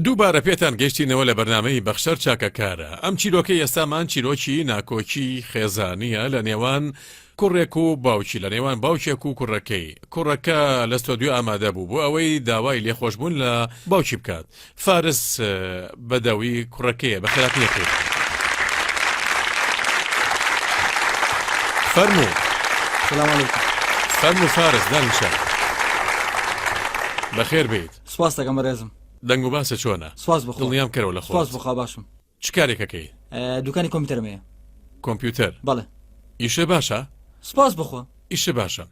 دووبارە پێتان گەشتینەوە لە بەرنمەی بەخشەر چاکەکارە ئەم چیرۆکە ئێستامان چیرۆکی ناکۆکی خێزانە لە نێوان کوڕێک و باوکی لە نێوان باوکێک و کوڕەکەی کوڕەکە لەستۆدیو ئامادە بوو بۆ ئەوەی داوای لێخۆشببوون لە باوکی بکات فارس بەدەوی کوڕەکەیە بە خراپ نەکرێت فەرمو فەرمو فارس دانیشە بەخێر بیت سپاس دەکەم بەڕێزم دەنگ و باسە چۆنە سواز بخڵیام کەەوە لە خۆ بخوا باشم چ کارێکەکەی دوکانی کۆمپیوتەرم هەیە کۆمپیوتەر بەڵێ ئیشە باشە سپاس بخۆ ئیشە باشە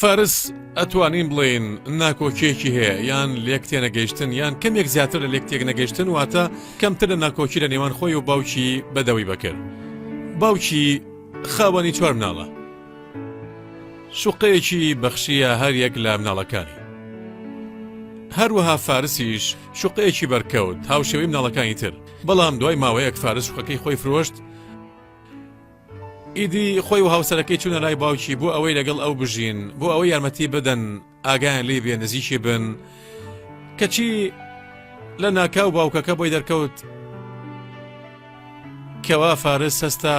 فارس ئەتوانین بڵێین ناکۆکیەکی هەیە یان لێک تێنەگەیشتن یان کەمێک زیاتر لە لێک تێک نەگەیشتن واتە کەمتر لە ناکۆکی لە نێوان خۆی و باوکی بەدەوی بەکرد باوکی خاوەنی چوار مناڵە شوقەیەکی بەخشیە هەر یەک لە مناڵەکانی هەروەها فارسیش شوقەیەکی بەرکەوت هاوشێوەی مناڵەکانی تر بەڵام دوای ماوەیەک فارس شوقەکەی خۆی فرۆشت ئیدی خۆی و هاوسەرەکەی چوونە لای باوکی بۆ ئەوەی لەگەڵ ئەو بژین بۆ ئەوەی یارمەتی بدەن ئاگایان لی بێ نزیکی بن کەچی لە ناکاو باوکەکە بۆی دەرکەوت کەوا فارس هەستا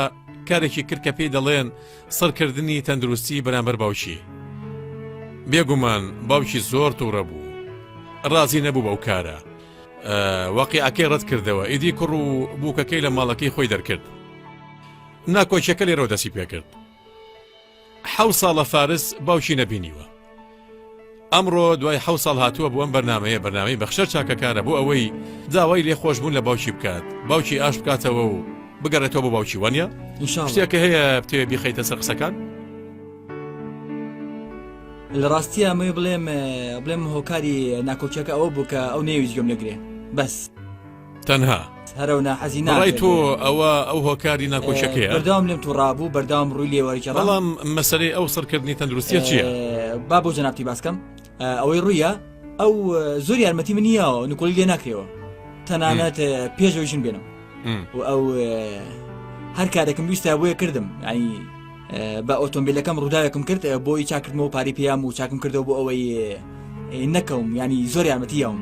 کارێکی کرد کە پێی دەڵێن سڕکردنی تەندروستی بەرامبەر باوکی. بێگومان باوکی زۆر تووڕە بوو. ڕازی نەبوو بەو کارە. واقعەکەی ڕەت کردەوە ئیدی کوڕ و بووکەکەی لە ماڵەکەی خۆی دەرکرد. ناکۆکیەکە لێرەوە دەسی پێکرد. حەو ساڵە فارس باوکی نەبینیوە. ئەمڕۆ دوای حەوت ساڵ هاتووە بۆ ئەم بەرنامەیە بەرنامەی بەخشەر چاکەکارە بۆ ئەوەی داوای لێ خۆشبوون لە باوکی بکات باوکی ئاش بکاتەوە و بگەڕێتەوە بۆ باوکی وانە شتێکە هەیە بتێ بیخیتە سەر قسەکان لە ڕاستی ئەمەی بڵێم بڵێم هۆکاری ناکۆکیەکە ئەوە بوو کە ئەو نێویش گەم لەگرێ بەس. تەنها هەرە و ناحەزی ناڕای ناڕای تۆ ئەوە ئەو هۆکاری ناکۆچەکەیە بەردەوام لێم تو ڕابوو بەردەوام ڕووی لێوەرجە بەڵام مەسەرەی ئەو سڕکردنی تەندروستیە چییە؟ با بۆ جەنابتی باسکەم ئە، ئەوەی ڕوویە ئەو ئە، زۆر یارمەتی من یاوە نکۆڵی لێ ناکرێەوە تەنانەت ئە، پێشەوەی ژن بێنم م. و ئەو ئە، هەر کارێکم ویستا بۆیە کردم ینی ئە، بە ئۆتۆمبیلەکەم ڕووداوێکم کرد ئە، بۆی چاکردمەوە پارەی پێیام و چاکم کردەوە بۆ ئەوەی ئە، ئە، نەکەوم ینی زۆر یارمەتی یاوم.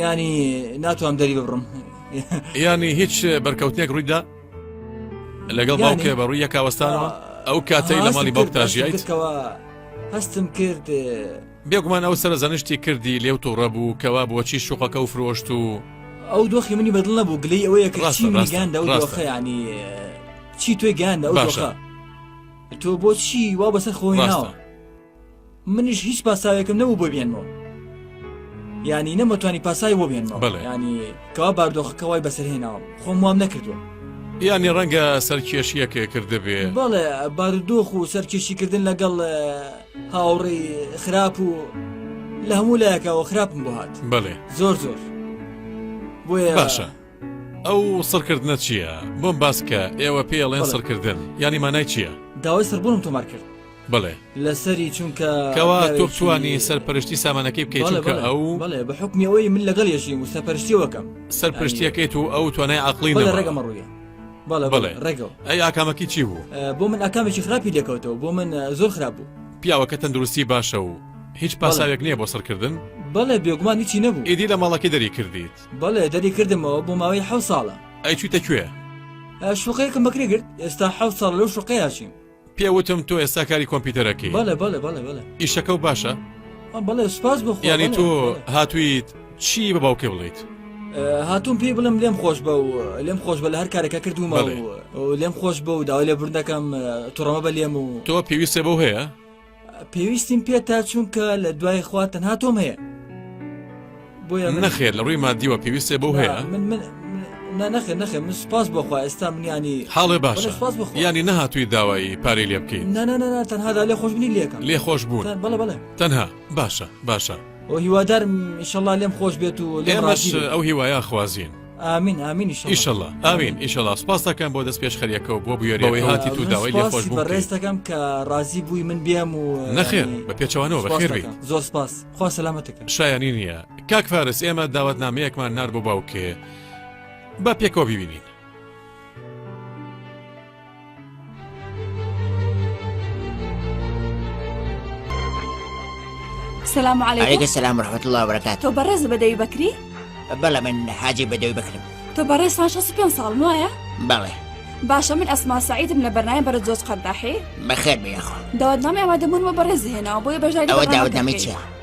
یانی ناتوانم دەری ببڕم یانی هیچ بەرکەوتنێک ڕوویدا لەگەڵ باوکێ بە ڕووی یەکاوەستانەوە ئەو کاتەی لە ماڵی باوکتا ژیایتەوە هەستم کرد بێگومان ئەو سەر زەنشتی کردی لێو تۆڕە بوو کەوا بۆچی شوقەکە و فرۆشت و ئەو دۆخی منی بەدڵ نەبوو گلەی ئەوەیە کەڕاستی منگاندا و دۆخەیانی چی توێ گیاندا ئەو باشە تۆ بۆچی وا بەسەر خۆی ناوە منیش هیچ پاساوێکم نەبوو بۆ بێنمەوە ینی نەمەتوانی پاسای بۆ بێنمەوە ینی کەوا باردۆخەکە وای بەسەرهێناوە خۆم وام نەکردووە ینی ڕەنگە سەرکێشیەکێ کردبێ بەڵێ بارودۆخ و سەرکێشیکردن لەگەڵ هاوڕێ خراپ و لە هەموو لایەکەوە خراپم بۆ هات بڵێ زۆر زۆر بۆیە باشە ئەو سڕکردنە چییە؟ بۆم باس کە ئێوە پێی ئەڵێن سڕکردن یانی مانای چییە؟ داوای سڕبوونم تۆمار کرد. بەڵێ. لەسەری چونکە. کەوا تۆ بتوانی سەرپەرشتی سامانەکەی بکەیت چونکە ئەو. بەڵێ بە حوکمی ئەوەی من لەگەڵ یەژیم و سەرپەرشتیەوە کەم. سەرپەرشتیەکەیت و ئەو توانای عەقڵی نەبوو. بەڵێ ڕێگە مەڕوویە. بەڵێ بەڵێ ڕێگە. ئەی ئاکامەکی چی بوو؟ بۆ من ئاکامێکی خراپی لێکەوتەوە بۆ من زۆر خراپ بوو. پیاوەکە تەندروستی باشە و هیچ پاساوێک نییە بۆ سڕکردن؟ بەڵێ بێگومان هیچی نەبوو. ئیدی لە ماڵەکەی دەری کردیت؟ بەڵێ دەری کردمەوە بۆ ماوەی حەو ساڵە ئەی چویتە کوێ؟ شوقەیەکم بەکرێ گرت ئێستا حەو ساڵ لەو شوقەیە چیم پێوتم تۆ ئێستا کاری کۆمپیوتەرەکەی بەڵێ بەڵێ بەڵێ بەڵێ ئیشەکە و باشە بەڵێ سپاس بۆ یانی تۆ هاتوویت چی بە باوکێ بڵیت هاتووم پێی بڵم لێم خۆش بە و لێم خۆش بە لە هەر کارەکە کردومە لێم خۆش بە و داوای لێ بردەکەم تڕەمە بە لێم و تۆ پێویستە بەو هەیە پێویستیم پێتە چونکە لە دوای خوا تەنها تۆم هەیە بۆیە نەخێر لە ڕووی مادیوە پێویستێ بۆ هەیە من من نەخێ نەخێ من سپاس بۆخوا ئێستا منیانی حاڵێ باش سپاس بۆ ینی نەهاتووی داوایی پارەی لێ بکەین نانەنا تەنهادا لێ خۆش بنی لێکم لێ خۆش بوون بڵە بڵێ تەنها باشە باشە ئەو هیوادارم شەڵا لێم خۆش بێت و لێمەش ئەو هیوایا خوازیین ئامین ئامین ئیشەڵا ئاوین ئیشەڵا سپاستەکەم بۆ دەست پێشخەریەکەەوە بۆ بوێرەوەی هاتی تو داوای لێ خۆش بوو ڕێستەکەم کە ڕازی بووی من بێم و نەخێر بە پێچوانەوە بەخێربی زۆر سپاس خوا سەلامەتەکە شایانی نییە کاک فارس ئێمە داوات نامەیەکمان نار بۆ باوکێ با پێکەوە ببینین سلام علیکم سلام رحمت الله وبرکات تۆ بەڕێز بەدەوی بکری بەڵێ من حاجی بەدەوی بکرم تۆ بەڕێز پێ ساڵ وایە بەڵێ باشە من ئەسما سعیدم لە بەرنای بەرە زۆز قەرداحی بەخێر بێخۆ داوت نامێوا دەمونەوە بەڕێز هێناوە بۆیە بەژای داوت نامی چیە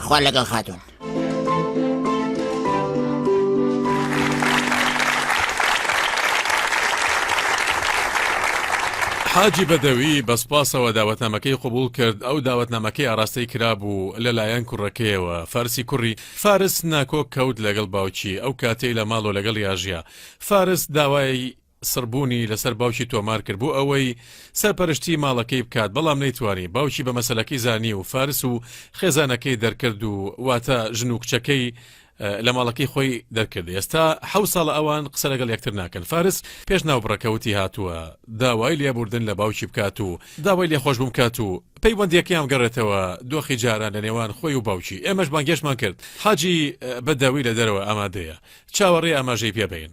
خوا لەگەڵ خاتون. حاجی بەدەوی بەسپاسەوە داوەتنامەکەی قوبول کرد ئەو داوەتنامەکەی ئاراستەی کرابوو لەلایەن کوڕەکەیەوە فارسی کوڕی فارس ناکۆک کەوت لەگەڵ باوکی ئەو کاتەی لە ماڵۆ لەگەڵ یاژیا فارس داوای سڕبوونی لەسەر باوکی تۆمار کرد بۆ ئەوەی سەرپەرشتیی ماڵەکەی بکات، بەڵام نەیتوانی، باوکی بە مەسەلەکەی زانی و فارس و خێزانەکەی دەرکرد و واتە ژن و کچەکەی لە ماڵەکەی خۆی دەرکرد، ئێستا حەوت ساڵە ئەوان قسە لەگەڵ یەکتر ناکەن، فارس پێش ناوبڕەکە وتی هاتووە داوای لێبووردن لە باوکی بکات و داوای لێخۆشبوون بکات و پەیوەندییەکەیان بگەڕێتەوە دۆخی جاران لە نێوان خۆی و باوکی، ئێمەش بانگێشتمان کرد حاجی بەدەوی لە دەرەوە ئامادەیە، چاوەڕێی ئاماژەی پێ بین.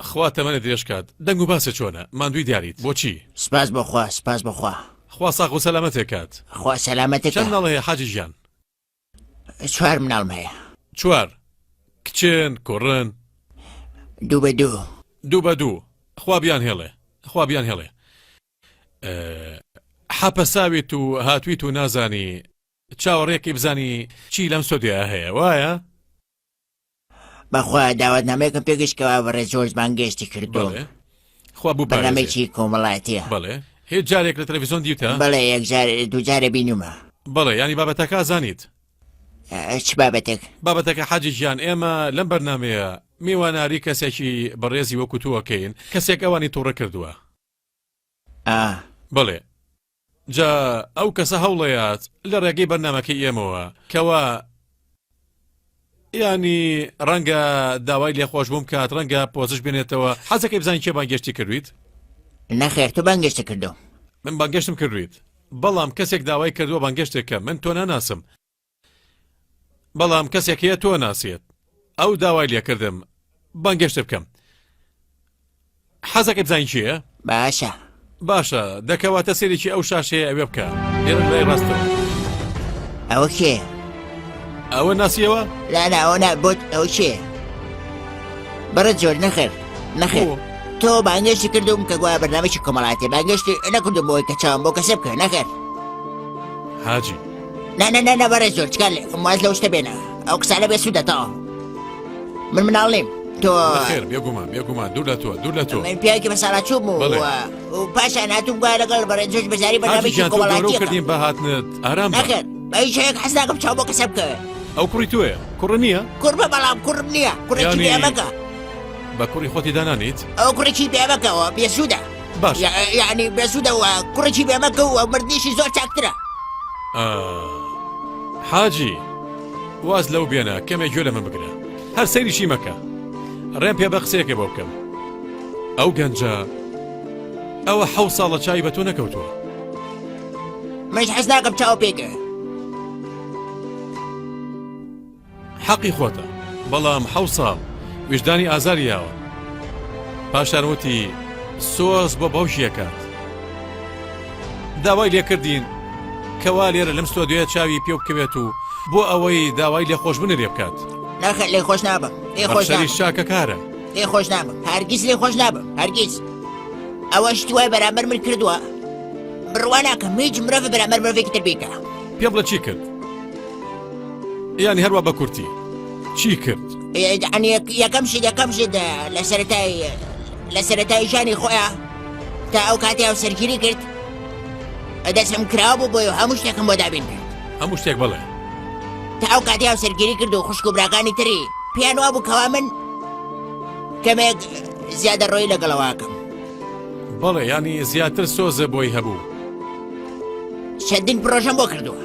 خوا تەمەنت درێژ کات. دەنگ و باست چۆنە؟ ماندووی دیاریت. بۆچی؟ سپاس بۆ خوا سپاس بۆ خوا. خوا ساغ و سەلامەتێ کات. خوا سەلامەتت چەند مناڵ هەیە حاجی گیان؟ چوار مناڵم هەیە. چوار؟ کچن؟ کوڕن؟ دوو بە دوو. دوو بە دوو. خوا بیان هێڵێ. خوا بیان هێڵێ. حەپەساویت و هاتویت و نازانی چاوەڕێکی بزانی چی لەم ستۆدیۆیە هەیە وایە؟ بەخوا داوەتنامەیەکم پێگەشت کەوا بەڕێز جۆرج بانگێشتی کردووم بەڵێ خوا بوو بەرنامەیەکی کۆمەڵاتیە بەڵێ هیچ جارێک لە تەلەڤیزۆن دیوتە بەڵێ یەک جار دوو جارە بینومە بەڵێ ینی بابەتەکە زانیت چ بابەتێک بابەتەکە حاجی گیان ئێمە لەم بەرنمەیە میواناری کەسێکی بەڕێزی وەکوتووەکەین کەسێک ئەوانی تووڕە کردووە ئا. بەڵێ جا ئەو کەسە هەوڵەیات لە ڕێگەی بەرنامەکەی ئێمەوە کەوا یانی ڕەنگە داوای لێخۆش بووم کات ڕەنگە پۆزش بێنێتەوە حەزەکەی بزانین کێ بانگێشتی کردویت نەخێر تو بانگێشتە کردو من بانگێشتم کردویت بەڵام کەسێک داوای کردووە بانگێشتێکە من تۆ ناناسم بەڵام کەسێک هەیە تۆ ناسێت ئەو داوای لێکردم بەنگەشت بکەم حەزەکە بزانین چیە؟ باشە باشە دەکەواتە سێرێکی ئەو شاشەیە ئەوێ بکە لێرە لای ڕاستەوە ئەوە کێ؟ ئەوە ناسیەوە؟ لانا ئەوە نابوت ئەو کێ؟ بەڕە جۆر نەخێر نەخێر. تۆ بانگەشتی کردوم کە گوایە بەنامێکی کۆمەڵاتی بانگەشتی نەکردم بۆی کە چاوم بۆ کەسە بکە نەخێر. حاجی نا نا نا نا بەڕێز زۆر تکا لێ خۆم واز لەو شتە بێنە ئەو قسانە بێ سوودە تەواو من مناڵ نیم تۆ خێر بێگومان بێگومان دوور لە تۆ دوور لە تۆ من پیاوێکی بەساڵاچوو بوو بەڵێ. و- و پاشان هاتووم گوایە لەگەڵ بەڕێز زۆر بەزاری حاجی بەنامێکی گیان تۆ گەورە و کۆمەڵاتیەکە کردین بە هاتنت ئارام بە. نەخێر بە هیچ شتێک حەز ناکەم چاو بۆ کەسە بکەوێ ئەو کوڕی تۆیە کوڕ نییە کوڕ بە بەڵام کوڕم نییە کوڕێکی یانی- بێمەکە بە کوڕی خۆتی دانانیت ئەو کوڕێکی بێمەکەوە بێسوودە باش یعنی بێسوودەوە کوڕێکی بێمەکە و مردنیشی زۆر چاکترە حاجی واز لەو بێنە کەمێک گوێ لە من بگرە هەر سەیریشی مەکە ڕێم پێ بە قسەیەکە بۆ بکەم ئەو گەنجە ئەوە حەو ساڵە چای بە تۆ نەکەوتووە مەش حەز ناکەم چاو پێکە حەقی خۆتە بەڵام حەو ساڵ ویژدانی ئازاری یاوە پاشان وتی سۆز بۆ باوکی ئەکات داوای لێکردین کەوا لێرە لەم سۆدوێ چاوی پێ بکەوێت و بۆ ئەوەی داوای لێ خۆش بنرێ بکات ناخە لێ خۆش نابە لێ خۆش شاکەکارە لێ خۆش نابە هەرگیز لێ خۆش نابە هەرگیز ئەوە شتوای بەرامبەر من کردووە بڕواناکەم هیچ مرۆڤ بەرامبەر مرۆڤێکی تر بیکە پێ بڵە چی کرد یانی هەروە بە کورتی چی کرد؟ یەکەم شت یەکەم شت لە سەرەتایی لە سەرەتایی ژانی خۆیان تا ئەو کاتی ئەو سەرگیری کرد دەسم کراوە بۆ بۆی هەموو شتێکم بۆ دابین کرد هەموو شتێک بڵێ تا ئەو کاتی ئەو سەرگیری کرد و خوشک و براکانی تری پێیان وا بوو کەوا من کەمێک زیادە ڕۆی لەگەڵەوەکەم بەڵێ ینی زیاتر سۆزە بۆی هەبوو چەندین پرۆژەم بۆ کردووە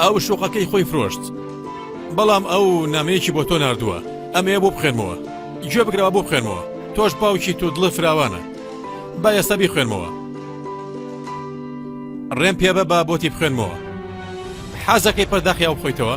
ئەو شوقەکەی خۆی فرۆشت بەڵام ئەو نامەیەکی بۆ تۆ نردووە ئەمەیە بۆ بخێنمەوە گوێ بگرەوە بۆ بخێنمەوە تۆش باوکی تو دڵە فراوانە با ئێستا بی خوێنمەوە ڕێم پێبە با بۆتی بخوێنمەوە حەزەکەی پەرداخیاو بخۆیتەوە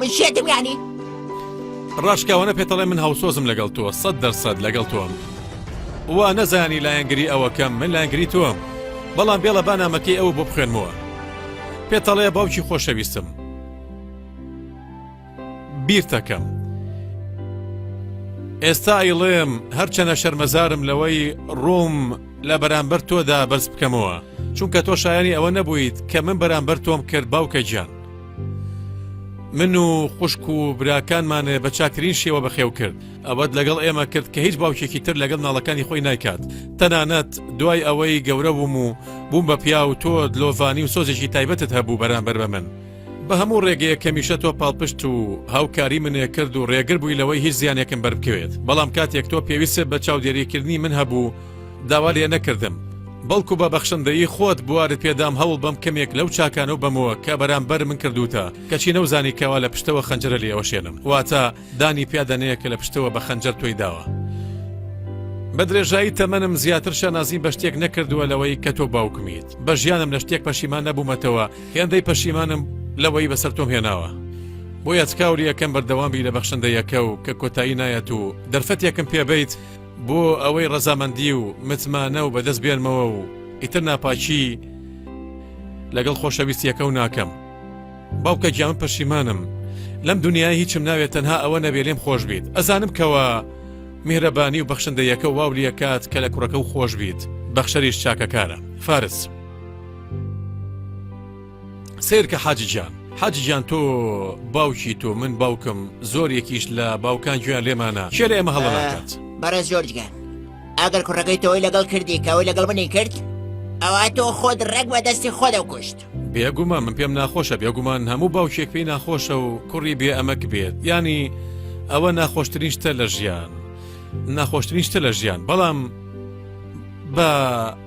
من شێتم یانی ڕاشکاوانە پێتەڵێ من هاوسۆزم لەگەڵ تۆ سەد دەرسەد لەگەڵ تۆم وا نەزانی لایەنگری ئەوەکەم من لایەنگری تۆم بەڵام بێڵە بانامەکەی ئەو بۆ بخوێنمەوە پێتەڵێ باوکی خۆشەویستم بیرتەکەم ئێستا ئەیڵێم هەرچەنە شەرمەزارم لەوەی ڕووم لە بەرامبەر تۆدا بەرز بکەمەوە چونکە تۆ شایانی ئەوە نەبوویت کە من بەرامبەر تۆم کرد باوکە گیان من و خوشک و براکانمانێ بە چاکترین شێوە بەخێو کرد ئەوەت لەگەڵ ئێمە کرد کە هیچ باوکێکی تر لەگەڵ ناڵەکانی خۆی نایکات تەنانەت دوای ئەوەی گەورە بووم و بووم بە پیا و تۆ دلۆڤانی و سۆزێکی تایبەتت هەبوو بەرامبەر بە من بە هەموو ڕێگەیە کەمیشە تۆ پاڵپشت و هاوکاری منێ کرد و ڕێگر بووی لەوەی هیچ زیانێکم بەربکەوێت بەڵام کاتێک تۆ پێویست بە چاودێریکردنی من هەبوو داوا لێ نەکردم، بەڵکو بە بەخشندەیی خۆت بوارت پێ دام هەوڵ بەم کەمێک لەو چاکانەو بەمەوە کە بەرامبەر من کردووتە، کەچی نەوزانی کەوا لە پشتەوە خەنجەرە لێ ئەوەشێنم، واتە دانی پیا دەنێ کە لە پشتەوە بە خەنجەر تۆی داوە. بە درێژایی تەمەنم زیاتر شانازیم بە شتێک نەکردووە لەوەی کە تۆ باوکمیت، بە ژیانم لە شتێک پەشیمان نەبوومەتەوە، هێندەی پەشیمانم لەوەی بەسەر تۆم هێناوە. بۆیە تکاولی ئەکەم بەردەوام بی لە بەخشندەیەکەو کە کۆتایی نایەت و دەرفەتێکم پێ بەیت، بۆ ئەوەی ڕەزامەندی و متمانە و بەدەست بێنمەوە و ئیتر ناپاکی لەگەڵ خۆشەویستیەکەو ناکەم باوکە گیان پەشیمانم لەم دنیای هیچم ناوێت تەنها ئەوە نەبێ لێم خۆش بیت ئەزانم کەوە میهرەبانی و بەخشندەیەکە واو لەکات کە لە کوڕەکە و خۆش بیت بەخشەریش چاکەکارە فارس. سەیرکە حاجی گیان حاجی گیان تۆ باوکی تۆ من باوکم زۆر یەکیش لە باوکان گوێیان لێمانە کێ لە ئێمە هەڵە ناکات بەڕێز جۆرجگان ئەگەر کوڕەکەی تۆی لەگەڵ کردی کەەوەی لەگەڵ منی کرد ئەوە تۆ خۆت ڕێک بە دەستی خۆدە کوشت بێگومان من پێم ناخۆشە بێگومان هەموو باوکێک پێی ناخۆشە و کوڕی بێ ئەمەک بێت ینی ئەوە ناخۆشترین شتە لە ژیان ناخۆشترین شتە لە ژیان بەڵام بە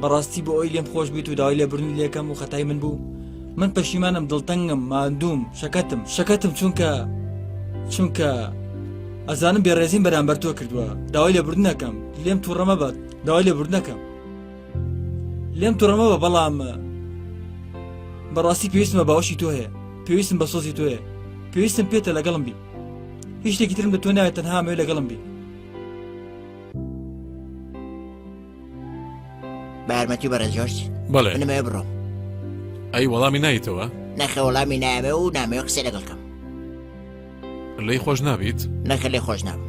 بەڕاستی بۆ ئەوی لێم خۆش بیت و داوای لێبرنی لێکەم و خەتای من بوو من پەشیمانم دڵتەنگم مادووم شەکەتم شەکەتم چونکە چونکە ئەزانم بێڕێزیم بەرامبەر تۆ کردووە داوای لێبردنەکەم لێم تووڕەمە بەت داوای لێبردنەکەم لێم توڕەمە بە بەڵام بەڕاستی پێویستمە باوشی تۆ هەیە پێویستم بە سۆزی تۆیە پێویستم پێتە لەگەڵم بی هیچ شتێکی ترم لە تۆ ناوێت تەنها مێ لەگەڵم بی بارمەتی بەڕێ جۆرج بەڵێ نمێ بڕۆ ئەی وەڵامی نایتەوە نەخە وەڵامی نامێ و نامێ قسە لەگەڵکەم لی خۆش نابیت نەکە لێ خۆش نام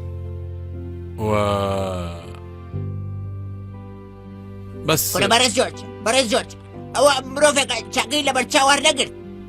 بەس بەڕێز جۆرج بەڕێز جۆرج ئەوە مرۆڤێک چاقی لەبەر چاوار نەگرت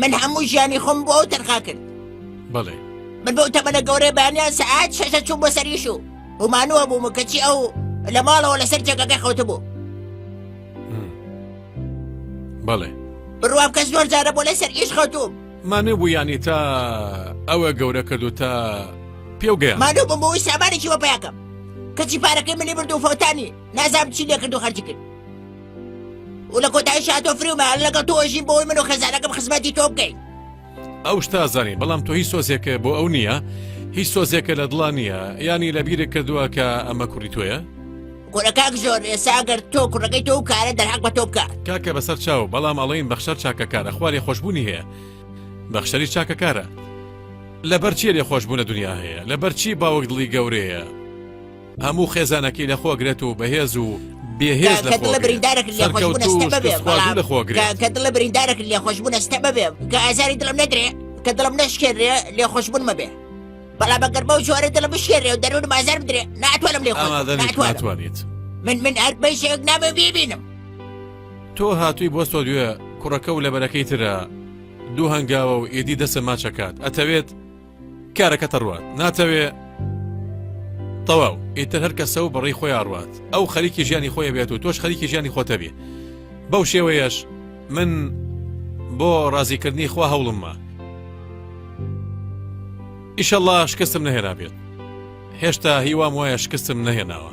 من هەموو ژیانی خۆم بۆ ئەو تەرخا کرد بەڵێ من بەو تەمەە گەورەی بەیانیان سەعات شەشە چوو بۆ سەریش و ومانوە بووم کەچی ئەو لە ماڵەوە لەسەر جێگەکە خەوتە بوو بەڵێ بڕوام کەس زۆر جارە بۆ لەسەر ئیش خەوتوم مانێ بوو ینی تا ئەوە گەورە کردو تا پێوگەیان مانو بم بۆی سامانێکی وەپیاکەم کەچی پارەکەی منی بردو فەوتانی نازام چی لێ کردو خەرجی کرد و لە کۆتایی شاتۆ فریومە لەگەڵ تۆژین بۆی من و خێزانەکەم خزمەتی تۆ بکەین ئەو شتازانی بەڵام تۆ هیچ سۆزێکە بۆ ئەو نییە هیچ سۆزێکە لە دڵان نییە ینی لە بیرە کردووە کە ئەمە کوڕی تۆیە کوڕەکان زۆر ئێساگەر تۆ کوڕەکەی تۆ کارە دەرحق بە تۆ بکە کاکە بەسەر چاو بەڵام ئەڵین بەخشەر چاکەکارە خوارێ خۆشببوونی هەیە بەخشەری چاکەکارە لەبەر چێ لێ خۆشببوونە دنیا هەیە لەبەر چی باوەک دڵی گەورەیە هەموو خێزانەکەی لە خۆ گرێت و بەهێز و بێهێز لە خۆ بریندارەک لە خۆشببوون ئەستە ببێ کە ئازاری دڵم نەدرێ کە دڵم نەشکێنرێ لێ خۆشببوون مەبێ بەڵام بەگەر بەو جۆرە دڵ بشێنێ و دەروون مازار بدرێ ناتوانم لێ خۆتوانێت من من هەر بەشێک نامە ببینم تۆ هاتووی بۆ سۆدیوە کوڕەکە و لەبەرەکەی ترە دوو هەنگاوە و ئێدی دەسە ماچەکات ئەتەوێت کارەکەت ئەڕوات ناتەوێ تەواو ئیتر هەر کەسە و بەڕی خۆی ئاڕوات ئەو خەریکی ژیانی خۆی بێت و تۆش خەریکی ژیانی خۆتەبێ بەو شێوەیەش من بۆ ڕازیکردنی خوا هەوڵممە ئیشەڵا شکستم نەهێرا بێت هێشتا هیوام وایە شکستم نەهێناوە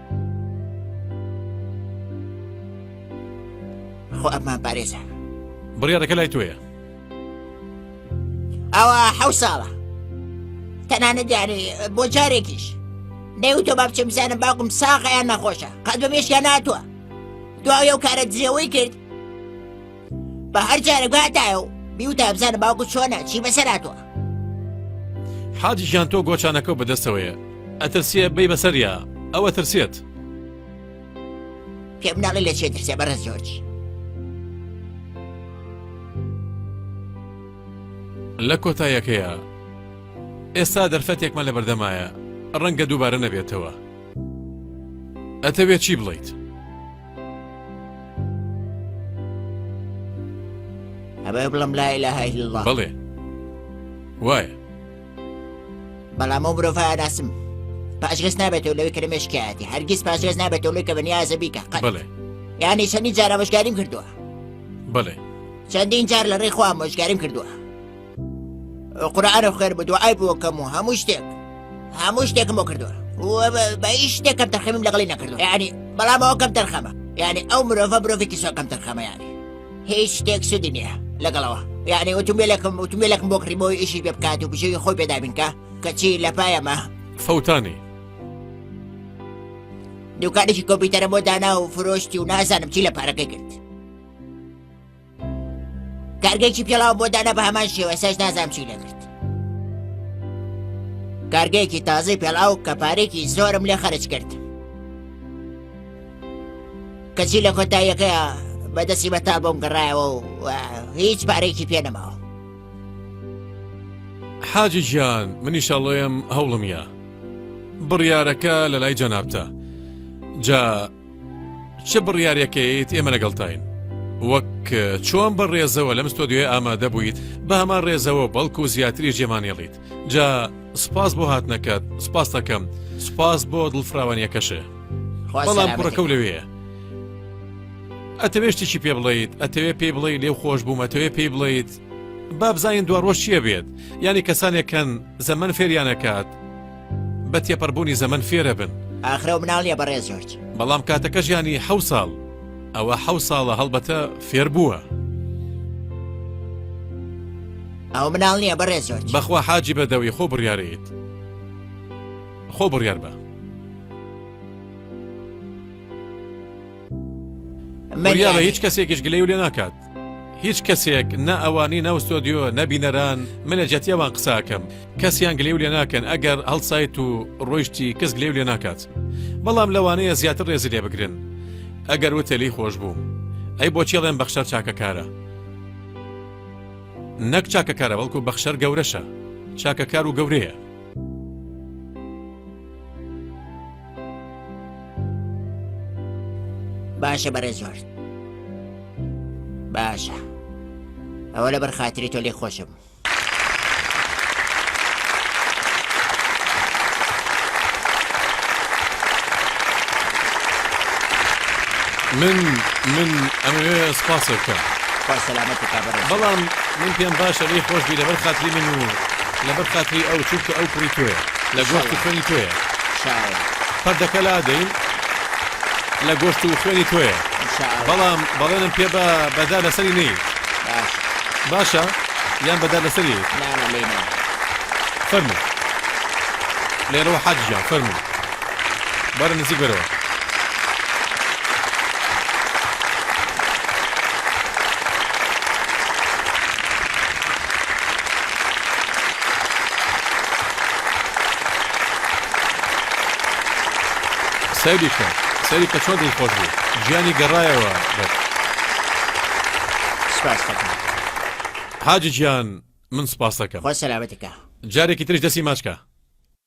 خۆ ئەمان پارێزە بڕیارەکە لای تۆیە ئەوە حەو ساڵە تەنانە دیارێ بۆ جارێکیش نێو تۆ با بچم بزانم باوکم ساغیان نەخۆشە قەت بەمێشیان ناتوە دواوی ئەو کارە درێەوەی کرد بە هەر جارێک واتایە و بیوتە بزانە باوکو چۆنە چی بەسەراتوە حاجی گیان تۆ گۆچانەکە بەدەستەوەیە ئەترسیە بی بەسەریا ئەوە ترسێت پێم ناڵی لە چێ ترسێ بەڕێ زۆرج لە کۆتایەکەیە ئێستا دەرفەتێکمە لە بەردەمایە ڕەنگە دووبارە نەبێتەوە ئەتەوێت چی بڵیت؟ ئەبێ بڵم لا إله إلا الله بەڵێ وایە بەڵام ئەو مرۆڤ ئاراسم پاشگەز نابێتەوە لەوەی کە مێشکایەتی هەرگیز پاشگەز نابێتەوە لەوەی کە بەنیازە بیکە قەت. بەڵێ یانی چەندی جارە بەشکاریم کردووە بەڵێ چەندین جار لە ڕێخوا مۆشگاریم کردووە قورعانە خێر بە دوعای بۆکەم و هەموو شتێک هەموو شتێکم بۆ کردووە بە هیچ شتێکم تەرخەمیم لەگەڵی نەکردو ینی بەڵام ئەوکەم تەرخەمە یعنی ئەو مرۆڤە مرۆڤێکی سۆکەم تەرخەمە ینی هیچ شتێک سودی نییە لەگەڵەوە یعنی وتومێلەکەم وتومێلەکم بۆ کڕیمەوە ئیشی پێ بکات و بژێوی خۆی پێدابینکە کەچی لە پایەمە فەوتانی دوکانێکی کۆپیتەرە بۆ دانا و فرۆشتی و نازانم چی لە پارەکەی کرد کارگەیەکی پێڵاو بۆ دانا بە هەمان شێوە سەش نازام چی لەکرد کارگەیەکی تازەی پێڵاو کە پارێکی زۆرم لێ خەرج کرد کەچی لە کۆتاییەکەیە بەدەستی بە تا بۆم گەڕایەوە و هیچ پارێکی پێ نەماوە حاجی گیان منیشەڵۆیم هەوڵم یا بڕیارەکە لە لای جەنابتە جا چ بڕیارێک کەیت ئێمە لەگەڵتاین وەک چۆن بە ڕێزەوە لەم ستۆدیۆی ئامادە بوویت بە هەمان ڕێزەوە بەڵکو زیاتری جێمانێڵیت جا سپاس بۆ هاتنەکەت سپاس دەکەم سپاس بۆ دڵفراوانیەکەشێ بەڵام کوڕەکە لەوەیە ئەتەوێ شتێکی پێ بڵیت ئەتەوێ پێی بڵێ لێو خۆش بووم ئەتەوێ پێی بڵیت بابزانین دواڕۆژ چیە بێت یانی کەسانێک کەن زەمن فێریانەکات بە تێپەر بوونی زەمەن فێرەبن. ئاخرەو مناڵ نیە بەڕێز جۆرج. بەڵام کاتەکەش یانی حەو ساڵ. ئەوە حەو ساڵە هەڵبەتە فێر بووە. ئەو مناڵ نییە بەڕێ زۆر بەخوا حاجی بەدەوی خۆ بڕیارەیت خۆ بڕیار بە مەریاە هیچ کەسێکیش گلەی و لێ ناکات هیچ کەسێک نە ئەوانی ناو ستۆدیۆ نە بینەران من لە جەتی ئەوان قساکەم کەسیان گلێو لێ ناکەن ئەگەر هەڵسایت و ڕۆیشتی کەس گلێو لێ ناکات بەڵام لەوانەیە زیاتر ڕێزی لێ بگرن ئەگەر وتە لی خۆش بوو ئەی بۆچێڵێن بەخشەر چاکەکارە نەک چاکەکارە بەڵکو بەخشەر گەورەشە چاکەکار و گەورەیە باشە بەرە زۆر باشە ئەوە لە بەرخاتری تۆ لێ خۆشم من من ئەمەوێ سپاسە بکەم بەڵام من پێم باشە لێ خۆشبی لەبەر خاتری من و لەبەر خاتری ئەو چونکە ئەو کوڕی تۆیە لە گۆشت و خوێنی تۆیە پردەکە لادەین لە گۆشت و خوێنی تۆیە بەڵام بەڵێنم پێ بە بەدا لەسەری نی باشە یان بەدا لەسەری فەرمو لێرەوە حەجیان فەرمو بەرە نزیک بەرەوە سەیری کە سەری کە چۆن دڵ خۆش بوو گیانی گەڕایەوە حاجی گیان من سپاس دەکەم خۆ سەلامەتەکە جارێکی ترش دەسی ماچکە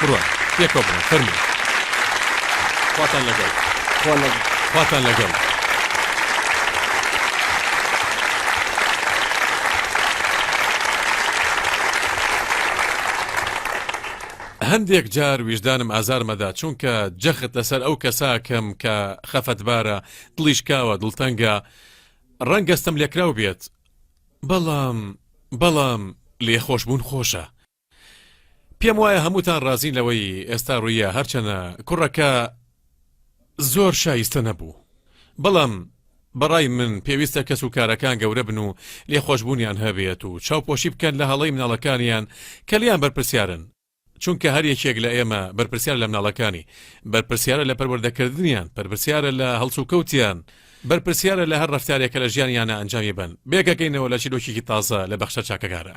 بڕوات پێکەوە بڕۆن فەرموو خواتان لەگەڵ خوا لەگەڵ خواتان لەگەڵ هەندێک جار ویژدانم ئازارمەدا چونکە جەخت لەسەر ئەو کەساکەم کە خەفەتبارە دڵیشکاوە دڵتەنگە ڕەنگەستم لێکراو بێت بەڵام بەڵام لێخۆشببوون خۆشە پێم وایە هەمووتان ڕازین لەوەی ئێستا ڕوویە هەرچەنە کوڕەکە زۆر شایستە نەبوو بەڵام بەڕای من پێویستە کەس و کارەکان گەورە بن و لێخۆشبوونیان هەبێت و چاوپۆشی بکەن لە هەڵەی مناڵەکانیان کە لیان بەرپرسیارن چونکە هەر یەکێک لە ئێمە بەرپرسیار لە مناڵەکانی بەرپرسیارە لە پەروەردەکردنیان پرپسیارە لە هەڵسوکەوتیان بەرپرسیارە لە هەر ڕفتارێکە لە ژیانیانە ئەنجامی بن بێگەکەینەوە لە چیرۆکیی تازە لە بەخشە چاکەکارە.